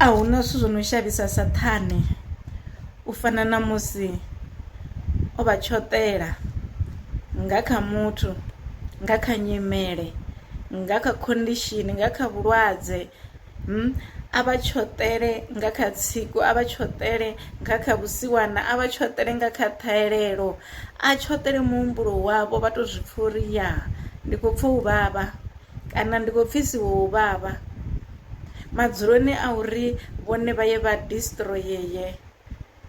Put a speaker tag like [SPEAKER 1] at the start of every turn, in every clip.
[SPEAKER 1] A hu na zwithu zwo no shavhisa Saṱhane u fana na musi o vha tshoṱela nga kha muthu, nga kha nyimele, nga kha condition, nga kha vhulwadze, a vha tshoṱele nga kha tsiku, a vha tshoṱele nga kha vhusiwana, a vha tshoṱele nga kha ṱhahelelo, a tshoṱele muhumbulo wavho vha tou zwi pfha uri ya ndi khou pfha u vhavha. Kana ndi khou pfisiwa u vhavha madzuloni a uri vhone vha ye vha distroyee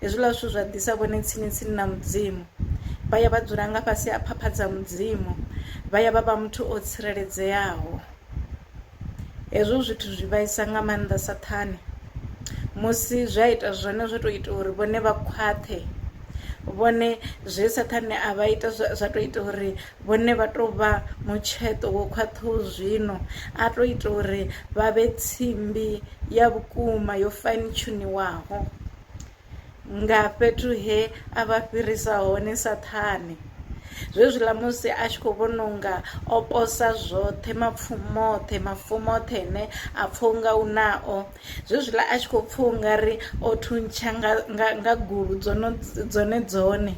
[SPEAKER 1] hezwiḽa zwithu zwa ḓisa vhone tsini tsini na mudzimu vha ya vha dzula nga fhasi ha phapha dza mudzimu vha ya vha vha muthu o tsireledzeaho hezwo zwithu zwi vhaisa nga maanḓa saṱhane musi zwi a ita zwone zwo to ita uri vhone vha khwaṱhe vhone zwe saṱhane a vha ita zwa to ita uri Vhone vha tou vha mutsheṱo wo khwaṱhaho zwino, a tou ita uri vha vhe tsimbi ya vhukuma yo faintshuniwaho nga fhethu he a vha fhirisa hone Saṱhane. Zwezwiḽa musi a tshi khou vhona unga o posa zwoṱhe, mapfumo oṱhe, mafumo oṱhe ane a pfa unga u nao, Zwezwiḽa a tshi khou pfa ungari o thuntsha nga nga nga gulu dzono dzone dzone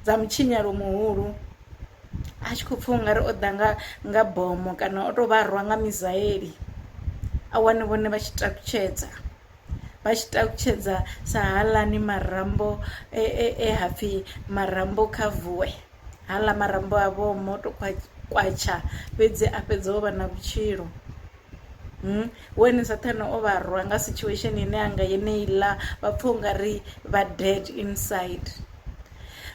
[SPEAKER 1] dza mutshinyalo muhulu a tshi khou pfa ungari o ḓa nga nga bomo kana o to vha rwa nga misaeli a wane vhone vha tshi takutshedza vha tshi takutshedza sa haaḽani marambo e hapfhi marambo kha vuwe haaḽa marambo a vho moto kwatsha fhedzi a fhedza o vha na vhutshilo. weni saṱhane o vha rwa nga situation ine anga yeneiḽa vha pfha u nga ri vha dead inside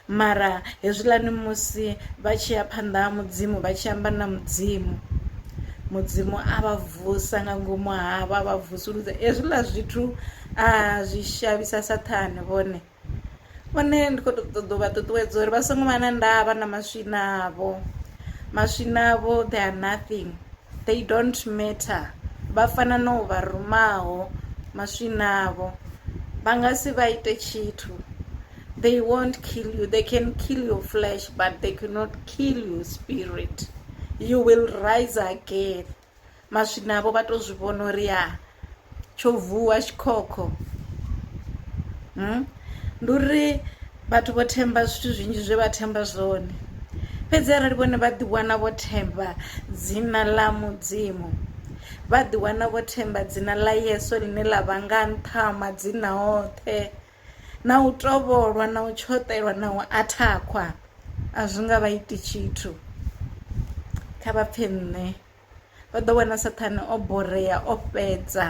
[SPEAKER 1] mara hezwiḽani musi vha tshi ya phanḓa ha mudzimu vha tshi amba na mudzimu mudzimu a vha vusa nga ngomu havho a vha vusuludza hezwiḽa zwithu a zwi shavhisa saṱhane vhone. Hone ndi kho to ṱoḓa u vha ṱuṱuwedza uri vha songo vha na ndavha na maswina avho maswina avho they are nothing they don't matter vha fana no vha rumaho maswina avho vha nga si vha ite tshithu they won't kill you they can kill your flesh but they cannot kill your spirit you will rise again maswinavho vha to zwi vhona uri ya tsho vuwa tshikhokho hmm? ndi uri vhathu vho themba zwithu zwinzhi zwe vha themba zwone fhedzi arali vhone vha ḓiwana vho themba dzina ḽa mudzimu vha ḓiwana vho themba dzina ḽa yesu ḽine ḽa vha nga nṱha madzina oṱhe na u tovholwa na u tshoṱelwa na u athakhwa a zwi nga vha iti tshithu kha vha pfhe nṋe vha ḓo wana sathane o borea o fhedza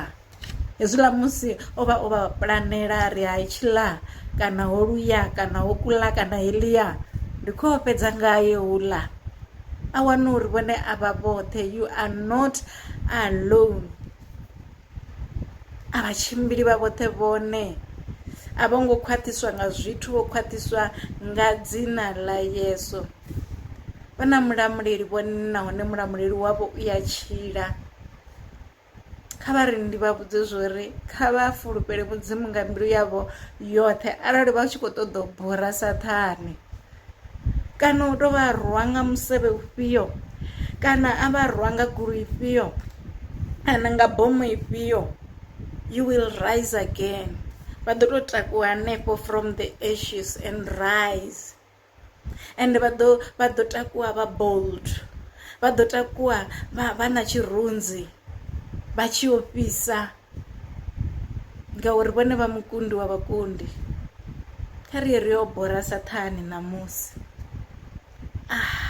[SPEAKER 1] hezwiḽa musi o vha o vha pulanela ri ha tshiḽa kana ho luya kana ho kula kana helia ndi kho fhedza ngayo hula a wana uri vhone a vha vhoṱhe you are not alone A vha tshimbili vha vhoṱhe vhone, a vho ngo khwaṱhiswa nga zwithu, vho khwaṱhiswa nga dzina ḽa Yesu. Vha na mulamuleli vhone nahone mulamuleli wavho u ya tshila. Kha vha ri ndi vha vhudze zwori kha vha fulufhele mudzimu nga mbilu yavho yoṱhe arali vha tshi kho ṱoḓa u bora saṱhane. kana u to vha rwa nga musevhe ufhio kana a vha rwa nga goloi ifhio kana nga bomo ifhio you will rise again vha ḓo to takuwa hanefho from the ashes and rise ende vha ḓo vha ḓo takuwa vha bold vha ḓo takuwa vha na tshirunzi vha tshi ofhisa. ngauri vhone vha mukundi wa vhakundi kha ri ye ri yo bora saṱhane ṋamusi ah.